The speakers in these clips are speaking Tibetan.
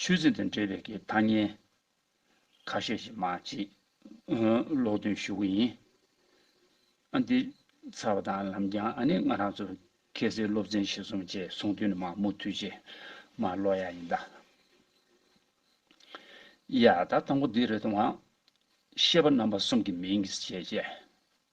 ཆོས་ཚིག་དང་འབྲེལ་བའི་གི་ཐ་སྙན། ཁ་ཤས་ཤིག་མ་གཅིག། ཀློག་འདོན་ཞུ་གི་ཡིན། ཨ་འདི། ཚར་བ་དང་ལམ་རྒྱང་ཨ་ནི་ང་རང་ཚོ། ཁྱེད་སེ་སློབ་ཚན་ཞིག་སོང་རྗེས་སོང་དུས་ནི་མ་མུ་མཐུད་རྗེས་མ་ཀློག་ཡག་ཡིན་ད། ཡ། ད་དང་པོ་འདི་རེད་དུང་ཨ། ཤེས་པ་རྣམ་པ་གསུམ་གི་མིང་གིས་བྱས་རྗེས།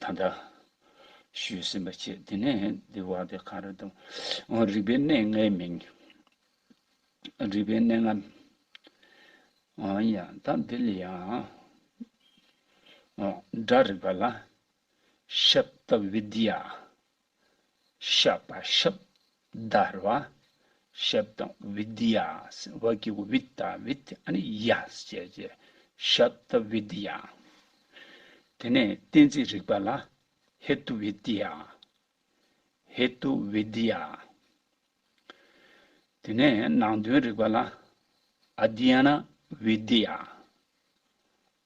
དང་འདྲ། ཞུས་ཟིན་པ་ཆེ། དེ་ནས་འདི་བ་དེ་གང་རེད་དམ། འོ་རིག་པའི་གནས་ལྔའི་མིང། རིག་པའི་གནས་ལྔ། འོན་ཡང་ད་འདི་ལ་ཡང། འོ་སྒྲ་རིག་པ་ལ། ཤབྟ་བི་དྷི་ཡ། ཤ་པ་ཤབ། བརྡར་བ། ཤབ་དང་བི་དི་ཡ། བ་ཀི་གུ་བི་ཏཱ་བི་ཏི་ཨ་ནི་ཡ། ཅེས་བྱ། ཤབ་ཏ་བི་དི་ཡ། དེ་ནས་གཏན་ཚིགས་རིག་པ་ལ། ཧེ་ཏུ་བི་དི་ཡ། ཧེ་ཏུ་བི་དི་ཡ། དེ་ནས་ནང་དོན་རིག་པ་ལ། ཨ་དྷི་ཡ་ན་བི་དི་ཡ།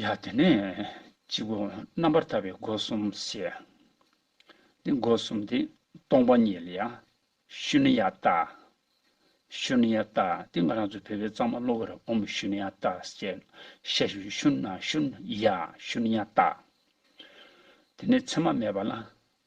ཡ། དེ་ནས་གཅིག་པུ་རྣམ་པར་ཐར་པའི་སྒོ་གསུམ་བཤད། དེ་སྒོ་གསུམ་དེ་སྟོང་པ་ཉིད་ལ་ཡང། ཤུ་ནི་ཡ་ཏཱ། ཤུ་ནི་ཡ་ཏཱ་དེ་ང་རང་ཚོ་བོད་པའི་གཙང་མ་གློ་བུར་ཨོ་མོ་ཤུ་ནི་ཡ་ཏཱ་ཞེས་བཤད་ཤུ་ཤུ་ན་ཤུ་ནི་ཡ་ཤུ་ནི་ཡ་ཏཱ། དེ་ནས་མཚན་མ་མེད་པ་ལ་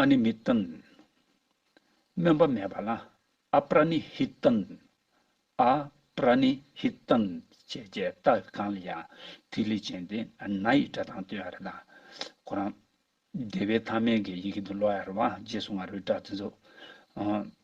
ཨ་ནི་མི་ཏན། སྨོན་པ་མེད་པ་ལ་ཨ་པྲ་ནི་ཧི་ཏན། ཨ་པྲ་ནི་ཧི་ཏན་བྱས་རྗེས་རྟགས་གང་ལ་ཡང་ཐིག་ལེ་ཅན་དེ་ན་ཡི་སྒྲ་དང་ཏུའི་ཨ་རི་དང། ཁོ་རང། བདེ་བའི་ཐ་མལ་གྱི་ཡི་གེ་འདི་ཀློག་ཡ་རུ་བ་རྗེས་སུ་ང་རོའི་སྒྲ་དེ་ཚོ།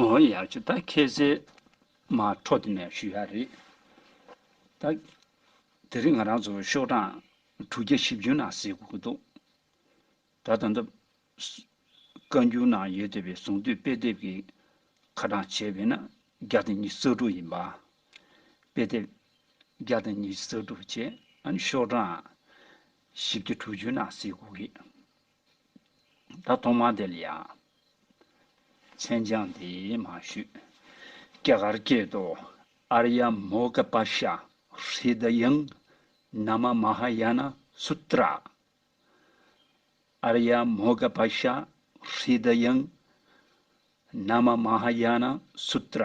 ཨོ་ཡ་ཆུ་ད་ཁྱེད་ཟེར་མ་འཕྲོ་དེ་ནས་ཞུ་ཡ་རེད། ད་དེ་རིང་ང་རང་ཚོ་ཤོག་གྲངས་དྲུག་བརྒྱ་བཞི་བཅུ་ནང་ཟིག་དགོས་ཀྱི་འདུག་ད་ད་ལྟ། བཀའ་འགྱུར་ནང་ཡོད་བསྡད་པའི་གཟུངས་བསྡུས་དཔེ་དེབ་ཀྱི་ཁ་གྲངས་བྱས་པས་ན་བརྒྱ་དང་ཉི་ས་དྲུག་ཡིན་པ། དཔེ་དེབ་བརྒྱ་དང་ཉི་ས་དྲུག་བྱས་ཨ་ནི་ཤོག་གྲངས་བཞི་བརྒྱ་དྲུག་ཅུ་ནང་ཟིག་དགོས་ཀྱི། ད་དུང་མ་དེ་ལ་ཡང། མཚན་བྱང་འདི་མ་ཞུས། སྐྱེ་གར་སྐྱེས་དུ་ཨར་ཡ་མོ་ཀ་པ་ཤ་ཧྲི་དཱ་ཡང་ན་མ་མ་ཧཱ་ཡ་ན་སུ་ཏྲ། ཨར་ཡ་མོ་ཀ་པ་ཤ་ཧྲི་དཱ་ཡང་ན་མ་མ་ཧཱ་ཡ་ན་སུ་ཏྲ།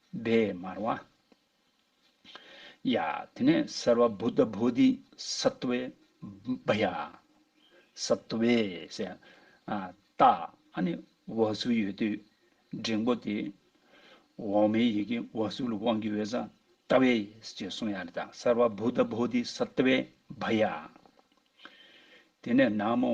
སྦས་མར་བ། ཡ། དེ་ནས་སར་བ་བུ་ད་བུ་ཏི་སར་ཏུ་བའི། བ་ཡ། སར་ཏུ་བའི་ཟེ། ཏ། ཨ་ནི་བ་སུ་ཡོད་དུས་འབྲིང་པོ་དེ། འོག་མའི་ཡི་གེ་བ་སུ་ལ་དབང་གི་འོད་ཟ། ཏ་བའི་ཞེས་གསུངས་ཡ་ལ་ད་སར་བ་བུ་ད་བུ་ཏི་སར་ཏུ་བའི། བ་ཡ། དེ་ནས་ན་མོ།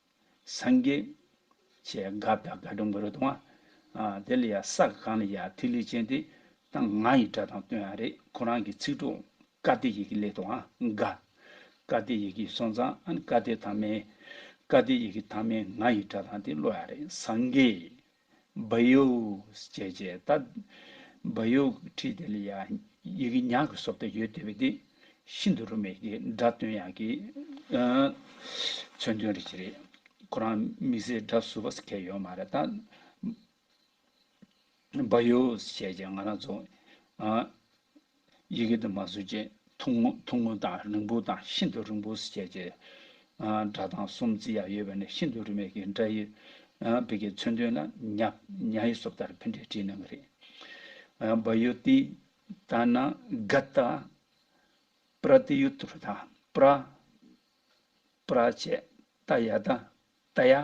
སངས་རྒྱས། ཅེས་དགའ་བདག་དགའ་སྤྲོ་མགུ་རུ་གཏོང། དེ་ལ་ཡང་ས་ག་གང་ལ་ཡང་ཐིག་ལེ་ཅན་ཏེ། དང་ང་ཡི་སྒྲ་དང་དོན་ཡང་རེད་ཁོ་རང་གི་ཚིག་གྲོགས། བཀའ་གཏེར་ཡི་གེ་ལས་དང་དགའ། བཀའ་གཏེར་ཡི་གེ་སོང་ཙང་ཨན་བཀའ་གཏེར་དང་མེད། བཀའ་གཏེར་ཡི་གེ་དང་མེད་ང་ཡི་སྒྲ་དང་དེ་བློ་ཡང་རེད་སངས་རྒྱས། སྦ་ཡུགས་བྱས་བྱས་ལྟ། སྦ་ཡུགས་ཁྲིད་དེ་ལ་ཡང་ཡི་གེ་ཉག་གི་སོབ་ལྟ་ཡོད་དེ་བས་དེ་ཤིན་ཏུ་རུ་མེད་ཀྱི་སྒྲ་དོན་ཡག་གི། མཚོན་དོན་རེད་ཅི་རེད་ཁོ་རང་མི་ཟེར་སྒྲ་ཟུར་བ་ཟེར་མཁན་ཡོད་མ་རེད་ད། སྦ་ཡུགས་བྱས་བྱས་ང་རང་རྫོང། ཡི་གེ་དུ་མ་བཟོས་རྗེས་ཐུང་ངུ་ཐུང་ངུ་དང་རིང་པོ་དང་ཤིན་ཏུ་རིང་པོ་སུ་བྱས་རྗེས། སྒྲ་གདངས་སུམ་བརྩེགས་ཡ་ཡོད་པ་ནས་ཤིན་ཏུ་རིན་མེད་ཀྱི་སྒྲ་ཡི། བི་གའི་མཚོན་དོན་ལ་ཉྀ་ཉྀ་ཡི་སོབ་ལྟར་ཕན་འབྲས་བྲིས་གནང་གི་རེད། བ་ཡོ་ཏི། ཏ་ན་ག་ཏ། པྲ་ཏི་ཡུ་ཏུ་རུ་ཏ། པྲ། པྲ་བཅས་ཏ་ཡ་ཏ། ཏ་ཡ།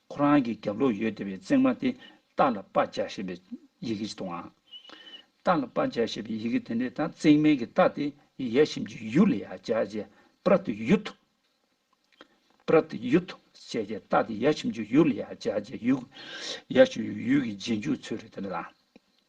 ཁོ་རང་གི་རྒྱབ་ལོགས་ཡོད་བདེ་བའི་བརྩེགས་མ་དེ་སྟག་ལ་པ་ལྕགས་ཞེས་པའི་ཡི་གེ་ཅིག་དང། སྟག་ལ་པ་ལྕགས་ཞེས་པའི་ཡི་གེ་དེ་འདྲའི་དང་བརྩེགས་མའི་གི་སྟག་དེ་ཡལ་ཞིམ་གྱི་ཡུག་ལ་ཡ་ལྕགས་ཅེས་པྲ་ཏི་ཡུ་ཐུ། པྲ་ཏི་ཡུ་ཐུ་ཅེས་ཀྱི་སྟག་དེ་ཡལ་ཞིམ་གྱི་ཡུག་ལ་ཡ་ལྕགས་ཅེས་ཡུག། ཡལ་ཞིམ་གྱི་ཡུག་གི་རྗེས་འཇུག་ཚུལ་རེད་དེ་འདྲ་དང།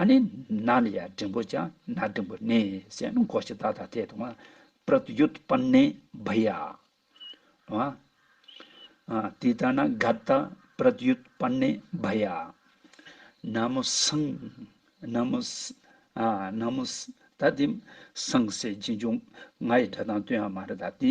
ཨ་ནི་ན་ལ་ཡ་འབྲིང་པོ་ཅང་ན་འབྲིང་པོ་ནི་སེ་ན་གོ་ཤི་ད་ད་དེ་དང་པྲ་ཏུ་ཡུད་པ་ནི་བི་ཡ་ཨ་དི་ད་ན་ག་ད་པྲ་ཏུ་ཡུད་པ་ནི་བི་ཡ་ན་མོ་སང་ན་མོ་ཨ་ན་མོ་སི་ད་དེ་སང་སེ་རྗེས་འཇུག་ང་ཡི་སྒྲ་དང་དོན་ཡང་མ་རེད་ད་དེ།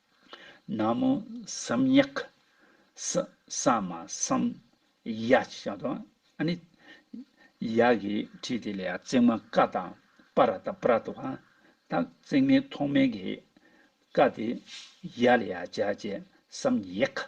ན་མོ་སམ་ཉག། ས་མ་སམ་ཡ་ཅེས་བྱ་དང། ཨ་ནི། ཡ་གི་དྲིས་དེ་ལས་བརྩེགས་མ་ཀ་དང་པ་ར་ཏཱ་པ་ར་ཏུ་ཧཱ། དང་བརྩེགས་མའི་ཐོག་མའི་གི་ཀ་དེ་ཡ་ལ་ཡ་བྱ་ཅེས་སམ་ཡེ་ཀ།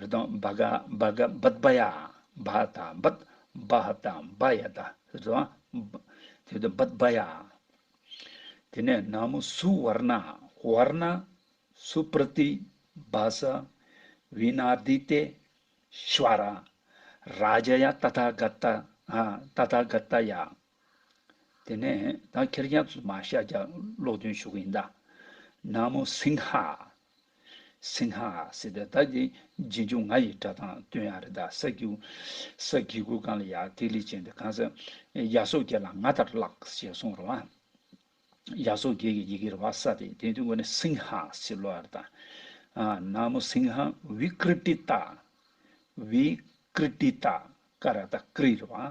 རི་དྭགས་འབའ་ག་འབའ་ག་འབད་འབའ་ཡ། འབའ་དང་འབད་འབའ་དང་འབའ་ཡ་དང། ཞེས་པ། འབད་འབའ་ཡ། དེ་ནས་ན་མོ་སུ་ཝར་ན་ཝར་ན། སུ་པྲི་ཏི་བ་ས། བི་ནཱ་དི་ཏེ། ཤཱི་བ་ར། རཱ་ཇཱ་ཡ་ཏཱ་ཐཱ་ག་ཏ། ཏཱ་ཐཱ་ག་ཏ་ཡ། དེ་ནས་ད་ཁྱེར་རྒྱ་མཚོ་མ་ཤཱཀྱ་ཀློག་འདོན་ཞུ་གི་ཡིན་ད། ན་མོ་སིང་ཧ། སིང་ཧ། སི་ཏེ་ད་འདི་རྗེས་འཇུག་ང་ཡི་སྒྲ་དང་དོན་ཡང་རེད་ད་ས་རྒྱུ། ས་དགེ་ཀུན་བཀང་ལ་ཡ་ཐིག་ལེ་ཅན་དེ་གང་ས། ཡ་སོ་རྒྱལ་ལ་ང་ལྟར་བཀླགས་ཞེས་གསུངས་རོ། ཡ་སོ་རྒྱལ་གྱི་ཡི་གེ་རེད་བ་ས་དེ་དེ་དུས་འགོ་ནས་སིང་ཧ་སི་ལོ་ཡ་རེད་ད། ན་མོ་སིང་ཧ་བི་ཀྲི་ཏི་ཏཱ། བི་ཀྲི་ཏི་ཏཱ་ཀ་ར་ད་ཀྲི་རེད་བ།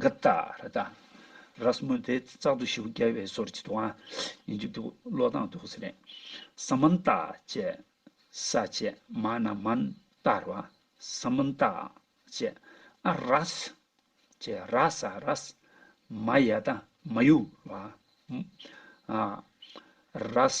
འགག་རྟགས་ར་རྟགས་ར་གསུམ་མོ་དེ་རྩག་ཏུ་ཞུགས་རྒྱལ་བའི་སོར་བྱེད་དུའང་ཡིན་གྱི་འདུག་བློ་དང་དུག་ཟེར་ནས་ས་མན་རྟགས་བཅས་ས་བཅས་མ་ན་མན་རྟགས་ར་བ་ས་མན་རྟགས་བཅས་ཨ་ར་ས་བཅས་ར་ས་ར་ས་མ་ཡ་རྟགས་མ་ཡུ་བ་ཨ་ར་ས་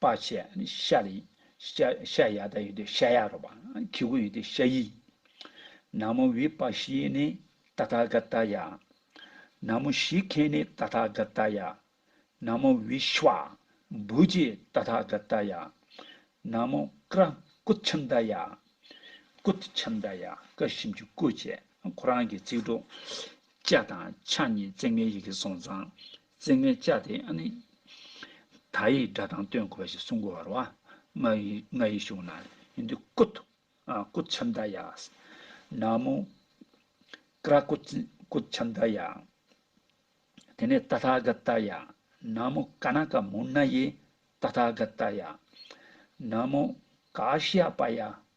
པ་ཆེ། ཤ་ལ་ཤ་ཡ་དང་ཡོད་དེ་ཤ་ཡ་རོ། ཁྱི་གུ་ཡོད་དེ་ཤ་ཡི། ན་མོ་བི་པ་ཤི་ནི་ཏ་ཐ་ག་ཏ་ཡ། ན་མོ་ཤི་ཁེ་ནི་ཏ་ཐ་ག་ཏ་ཡ། ན་མོ་བི་ཤི་བ་འབུ་ཇི་ཏ་ཐ་ག་ཏ་ཡ། ན་མོ་ཀ་ར་ཀུ་ཆི་མདའ་ཡ། ཀུ་ཆི་མདའ་ཡ་ཀ་ཤིམ་ཆུ་ཀུ་བཅས་ཁོ་རང་གི་ཚིག་གྲོགས། ལྕགས་དང་ཕྱག་གཉིས་བརྩེགས་མའི་ཡི་གེ་སོང་ཙང་རྩེ་ལྔའི་བཅའ་དེ་ནི། ད་ཡི་སྒྲ་དང་སྟོན་དགོས་པ་ཞིག་གསུང་དགོས་བར་བ། ང་ཡི་ང་ཡི་གཞུང་ན་ཡོན་ཏུ་སྐུ། སྐུ་ཆབ་མདའ་ཡ། ན་མོ། ཀ་ར་སྐུ། སྐུ་ཆབ་མདའ་ཡ། དེ་ནས་ཏཱ་ཐཱ་ག་ཏཱ་ཡ། ན་མོ་ཀ་ན་ཀ་མུ་ན་ཡེ། ཏཱ་ཐཱ་ག་ཏཱ་ཡ། ན་མོ་ཀ་ཤཱ་པ་ཡ།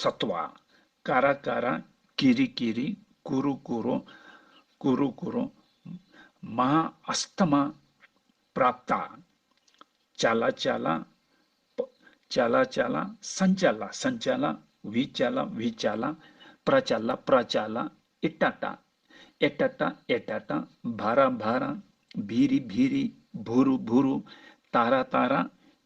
སྭ་ཏཱ། ཀ་ར་ཀ་ར། ཀི་རི་ཀི་རི། ཀུ་རུ་ཀུ་རུ། ཀུ་རུ་ཀུ་རུ། མ་ཧཱ་ཨཱསྟ་དམ། པྲཱཔྟ། ཅ་ལ་ཅ་ལ། ཅ་ལ་ཅ་ལ། སཱན་ཅ་ལ་སཱན་ཅ་ལ། བི་ཅ་ལ་བི་ཅ་ལ། པྲ་ཅ་ལ་པྲ་ཅ་ལ། ཨི་ཏྲ་ཏྲ། ཨེ་ཏྲ་ཏྲ་ཨེ་ཏྲ་ཏྲ། བྷ་ར་བྷ་ར། བི་རི་བི་རི། བུ་རུ་བུ་རུ། ཏཱ་ར་ཏཱ་ར།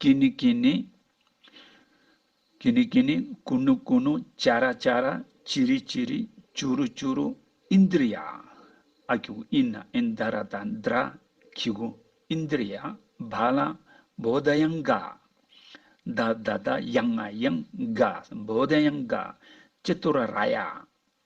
ཀྱེ་ནི་ཀྱེ་ནི། ཀྱེ་ནི་ཀྱེ་ནི། ཀུ་ནུ་ཀུ་ནུ། ཅཱ་ར་ཅཱ་ར། ཅི་རི་ཅི་རི། ཅུ་རུ་ཅུ་རུ། ཨིན་དིར་ཡ། ཨ་ཀྱུ་ཨིན་ན་ཨིན་དཱ་ར་དཱ་ནྡྲ། ཁི་གུ། ཨིན་དིར་ཡ། བ་ལ། བོ་དཱ་ཡང་ག། དཱ་དཱ་དཱ། ཡང་ཨ་ཡང་ག། བོ་དཱ་ཡང་ག། ཅི་ཏོ་ར་ར་ཡ།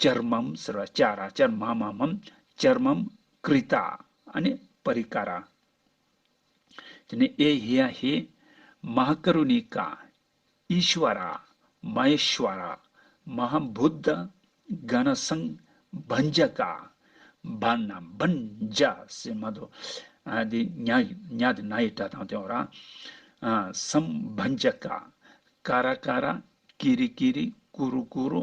ཅར་མམ་ཟེར་བ་ཅཱ་ར་ཅར་མ་མ་མམ་ཅར་མམ་ཀྲི་ཏཱ་ཨ་ནི་པ་རི་ཀ་ར། དེ་ནས་ཨེ་ཧེ་ཡ་ཧེ། མ་ཧཱ་ཀ་རུ་ནི་ཀ། ཨི་ཤི་བ་ར། མ་ཧེ་ཤི་བ་ར། མ་ཧཱ་བྷུ་དྡྷ། ག་ན་སངས། བྷན་ཇ་ཀ། བྷ་ན་བྷན་ཇ་སེ་མ་དོ། དེ་ཉ་ཉ་དེ་ན་ཡི་སྒྲ་དང་ལྡན་བ་ར། སམ་བྷན་ཇ་ཀ། ཀ་ར་ཀ་ར། ཀི་རི་ཀི་རི། ཀུ་རུ་ཀུ་རུ།